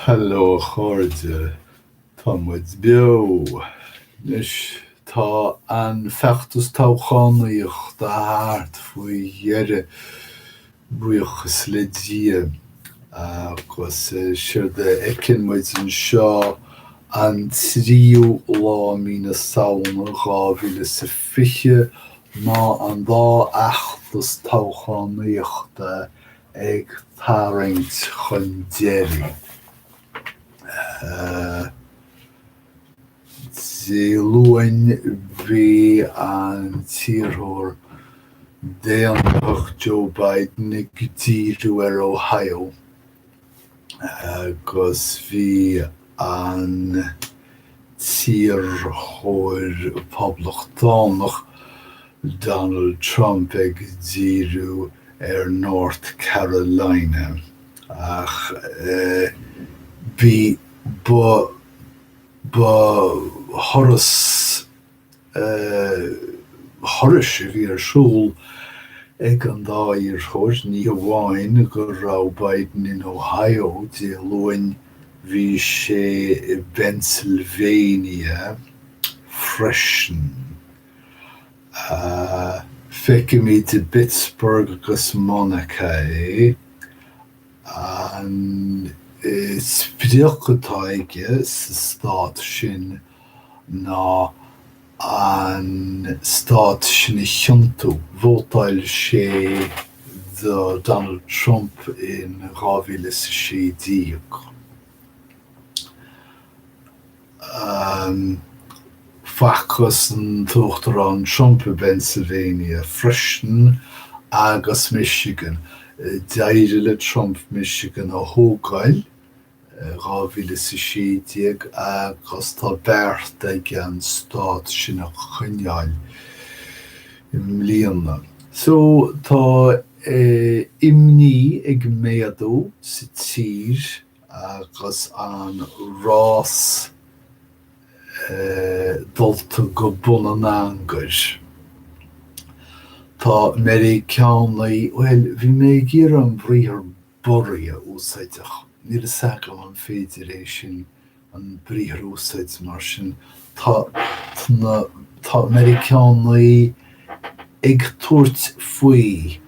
Hello a chairde, tá muid beo! Anois tá an feachtas toghchánaíochta thart faoi dheireadh, buíochas le Dia, agus séard a fheiceann muid anseo an tríú lá mí na Samhna 2020 ná an dá fheachtas toghchánaíochta ag tarraingt chun deiridh. Dé Luain bhí an t-iarrthóir Daonlathach Joe Biden ag díriú ar Ohio. agus bhí an t-iarrthóir Poblachtánach Donald Trump ag díriú ar North Carolina, ach bhí ba thuras thurais a bhí ar siúl ag an dá iarrthóir, ní hamháin go raibh Biden in Ohio Dé Luain, bhí sé i bPennsylvania freisin. Feicimid i bPittsburgh agus Monaca é. An sprioc atá aige sa Stát sin ná an stát sin a thiontú. Vótáil sé do Donald Trump in dhá mhíle is a sé déag. Facthas an tUachtarán Trump i bPennsylvania freisin agus Michigan. D'éirigh le Trump Michigan a thógáil. 2016 agus tá beartaithe aige an stát sin a choinneáil i mbliana. So tá imní ag méadú sa tír agus an rás dulta go bun an angair. Tá Meiriceánaigh, bhuel, bhí mé ag iarraidh an briathar borraí a úsáid ach. Níl fhios agam an féidir é sin an briathar a úsáid mar sin. Tá, tá Meiriceánaigh ag tabhairt faoi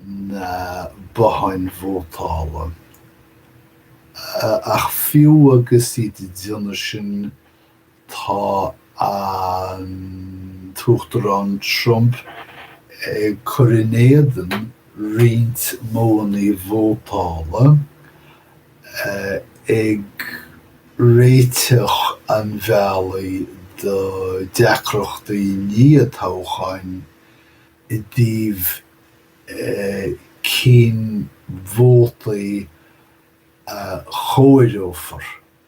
na botháin vótála. Ach fiú agus iad ag déanamh sin Tá an tUachtarán Trump ag cur in éadan roinnt modhanna vótála, ag réiteach an bhealaigh do dheacrachtaí iarthoghcháin i dtaobh cén vótaí a chomhaireofar.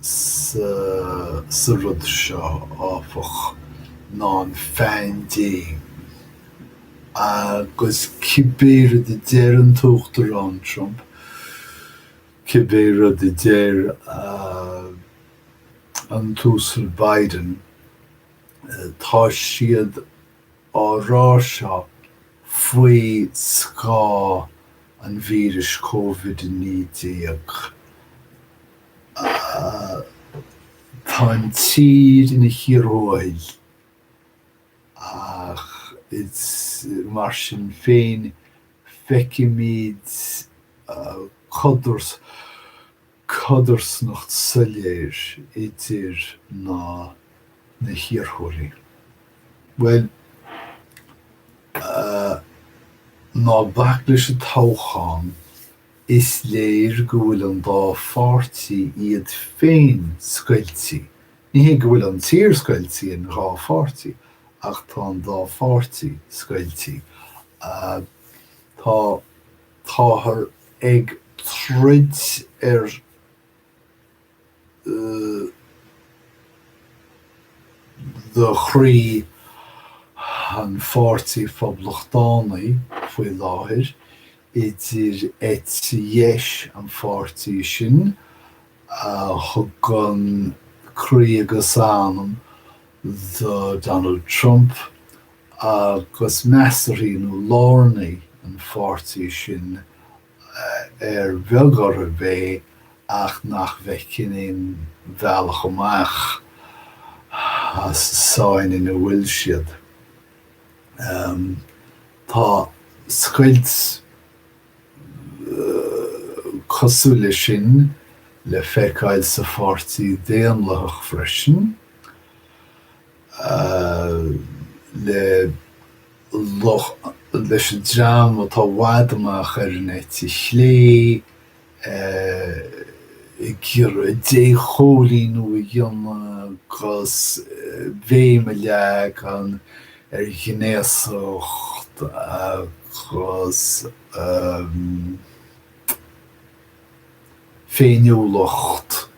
sa rud seo, áfach, ná an phaindéim, agus cibé rud a deir an tUachtarán Trump, cibé rud a deir an tUasal Biden, tá siad á rá seo faoi scáth an víris Covid-19. Tá an tír ina chíor thuathail ach is mar sin féin feicimid codar codarsnacht soiléir idir na na hiarrthóirí. Bhuel, eh, ná bac leis an toghchán, is léir go bhfuil an dá pháirtí iad féin scoiltí. Ní hé go bhfuil an tír scoiltí in dhá pháirtí, ach tá an dá pháirtí scoiltí. Eh, tá. Táthar ag troid ar chroí an Pháirtí Phoblachtánaí faoi láthair, idir eite dheis an pháirtí sin a thugann croí agus anam do Donald Trump agus measarthaigh nó lárnaigh an pháirtí sin ar bheag orthu é ach nach bhfeiceann aon bhealach amach as an tsáinn ina bhfuil siad. Tá scoilt cosúil leis sin le feiceáil sa Pháirtí Daonlathach freisin. le le leis an dream atá i bhfad amach ar an eite chlé ag iarraidh déchóilíniú a dhéanamh agus béim a leagan ar ghnéasacht agus féiniúlacht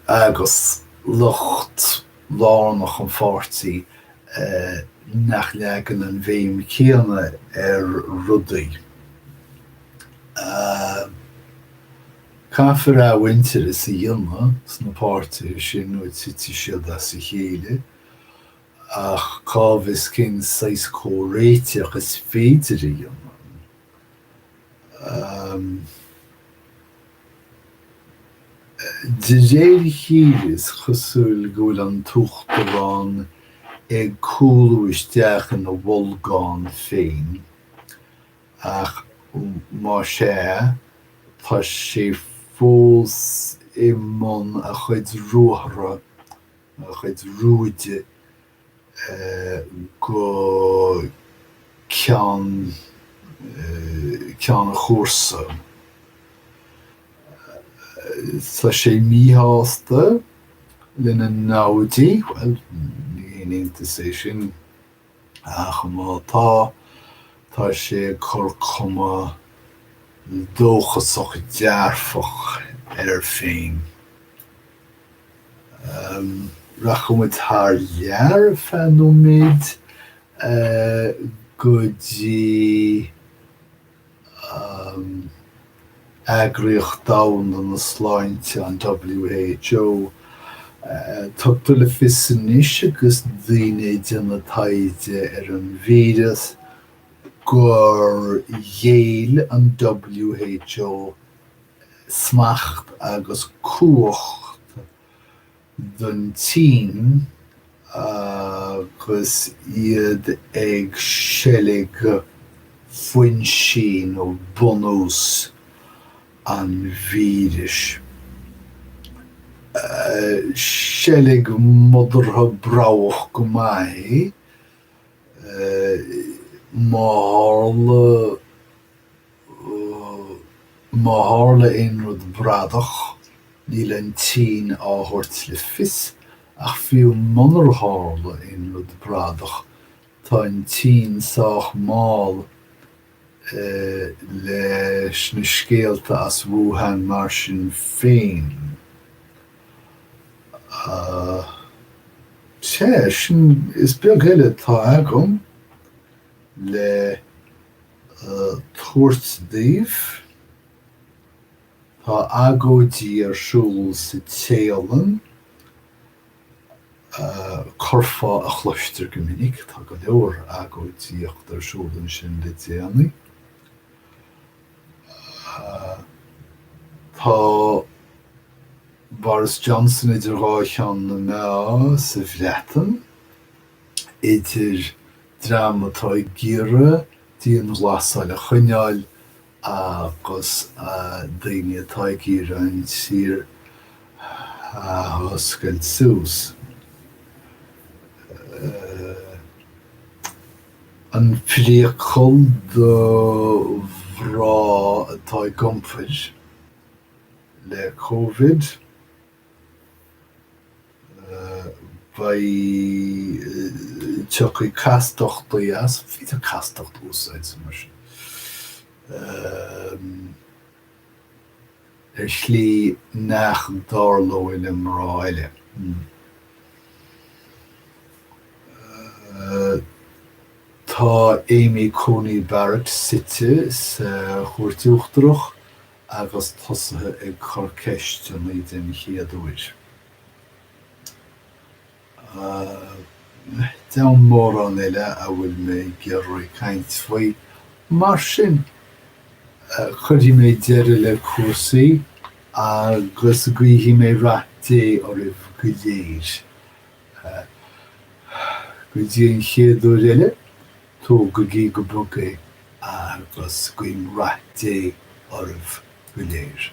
agus lucht lárnach an pháirtí nach leagann an bhéim chéanna ar rudaí. Caithfear athmhuintearas a dhéanamh sna páirtithe sin nó titfidh siad as a chéile. Ach cá bhfios cén saghas comhréiteach is féidir a dhéanamh? De réir a chéile is cosúil go bhfuil an tUachtarán ag cúlú isteach ina bholgán féin, ach má sea, tá sé fós i mbun a chuid ruathar a chuid rúide go ceann ceann an chúrsa. Tá sé míshásta lena namhaidí, bhuel, ní haon iontas é sin Ach má tá, tá sé ag cur cuma dóchasach dearfach air féin. Rachaidh muid thar lear ar feadh nóiméid go dtí an Eagraíocht Domhanda na Sláinte, an WHO. Tugtar le fios anois agus daoine ag déanamh taighde ar an víreas gur ghéill an WHO smacht agus cumhacht don tSín agus iad ag seilg foinsí nó bunús an víris. Seilg modartha broghach go maith é, má tharla. Má tharla aon rud bradach, níl an tSín á thabhairt le fios, ach fiú munar tharla aon rud bradach, tá an tSín sách mall leis na scéalta as Wuhan mar sin féin. Sea, sin is beag eile atá agam le. thabhairt daoibh. Tá agóidí ar siúl sa Téalainn, curfá a chloistear go minic, tá go leor agóidíocht ar siúl ansin le déanaí. Tá Boris Johnson idir dhá cheann na meá sa Bhreatain, idir. dream atá ag iarraidh dianghlasáil a choinneáil agus daoine atá ag iarraidh an tír a oscailt suas. An priacal do mhná atá ag iompair le co. vid, tiocfaidh castachtaí as, faightear castachtaí as amanna sin, ar shlí nach dtarlóidh le mná eile. Tá Amy Coney Barrett suite sa Chúirt Uachtarach agus tosaithe ag cur ceisteanna den chéad uair. Agus deamhan mórán eile a bhfuil mé ag iarraidh caint faoi. Mar sin, cuirfidh mé deireadh le cúrsaí agus guífidh mé rath Dé oraibh go léir. Go dtí an chéad uair eile, Tógaigí go bog é agus guím rath Dé oraibh go léir.